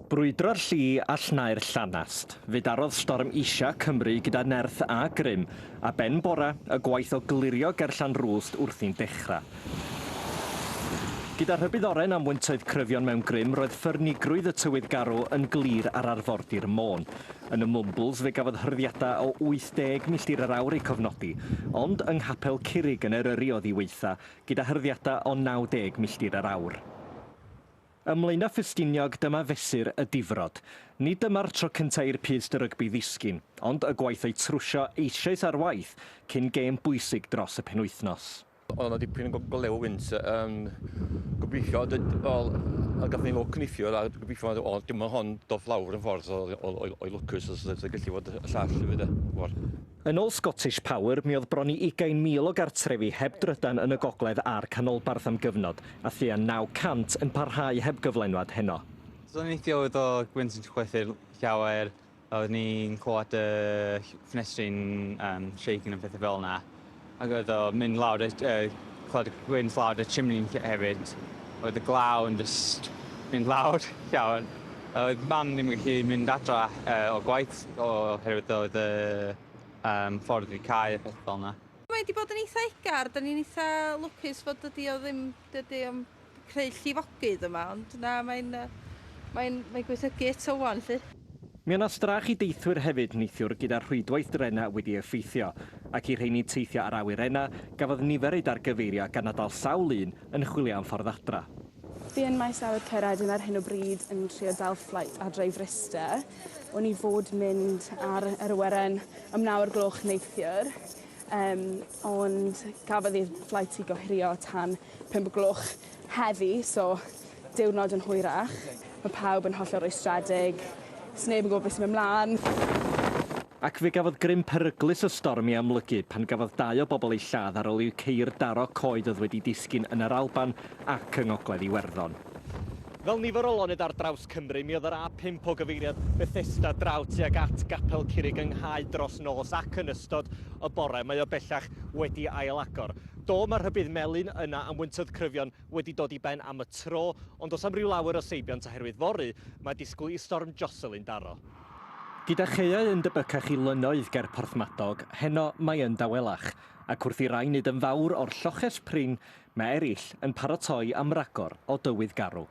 Brwydro'r lli a lhnau'r llanast. Fe darodd Storm Isha Cymru gyda nerth a grym, a ben bora, y gwaith o glirio ger Llanrwst wrthi'n dechrau. Gyda rhybudd oren am wyntoedd cryfion mewn grym, roedd ffyrnigrwydd y tywydd garw yn glir ar arfordir Môn. Yn y Mwmbwls fe gafodd hyrddiadau o 80 milltir yr awr eu cofnodi, ond yng Nghapel Curig yn Eryri o ddiweitha, gyda hyrddiadau o 90 milltir yr awr. Ym Mlaenau Ffestiniog dyma fesur y difrod. Nid dyma'r tro cyntaf i'r pyst dy rygbi ddisgyn, ond y gwaith o'i trwsio eisoes ar waith cyn gêm bwysig dros y penwythnos. Oedd yna dipyn o golew wynt yn gobeithio d- wel a gathon ni lwc neithiwr a gobeithio oedd oedd dim ond hon doth lawr yn ffordd oedd oedd oedd oedd lwcus os oedd o'n gallu fod y llall hefyd de. Ch'mod? Yn ôl Scottish Power, mi oedd bron i 20,000 o gartrefi heb drydan yn y gogledd a'r canolbarth am gyfnod, a thua 900 yn parhau heb gyflenwad heno. Do'n i'n licio oedd o gymaint yn chwythu'r llawer a oeddwn i'n clywed y ffenestri'n shake yn a pethau fel 'na. Ac oedd o'n mynd lawr y clod y gwynt lawr y chimney hefyd. Oedd y glaw yn jyst mynd lawr llawer. Oedd mam ddim yn gallu mynd adra o gwaith oherwydd oedd y ffordd wedi cau a pethau fel 'na. Mae 'di bod yn eitha' egar, 'dan ni'n eitha' lwcus fod dydi o ddim, dydi o'm creu llifogydd yma ond na mae'n yy mae'n mae'n gweithygu eto ŵan 'lly. Mi o' 'na strach i deithwyr hefyd neithiwr gyda rhwydwaith drena wedi effeithio, ac i rheini teithio ar awyrena, gafodd nifer eu dargyfeirio gan na dal sawl un yn chwilio am ffordd adra. Fi yn Maes Awyr Caeredin ar hyn o bryd yn trio dal fflait adra i Fryste. O'n i fod mynd ar yr awyren am naw o'r gloch neithiwr Yym, ond cafodd i'r flight i gohirio tan pump o gloch heddi, so diwrnod yn hwyrach. Mae pawb yn hollol rwystredig, sneb yn gwybod beth sy'n mynd mlan. Ac fe gafodd grym peryglus y storm ei amlygu pan gafodd dau o bobl eu lladd ar ol i'w ceir daro coed oedd wedi disgyn yn yr Alban ac yng Ngogledd Iwerddon. Fel nifer o lonydd ar draws Cymru, mi oedd yr A5 o gyfeiriad Bethesda draw tuag at Gapel Curig yng Nghae dros nos ac yn ystod y bore mae o bellach wedi ailagor. Do, mae rhybudd melyn yna am wyntog cryfion wedi dod i ben am y tro, ond does am ryw lawer o seibiant oherwydd fory mae disgwyl i Storm Jocelyn daro. Gyda chaeau yn debycach i lynnoedd ger Porthmadog, heno mae yn dawelach. ac wrth i rai nid yn fawr o'r lloches prin, mae eraill yn paratoi am ragor o dywydd garw.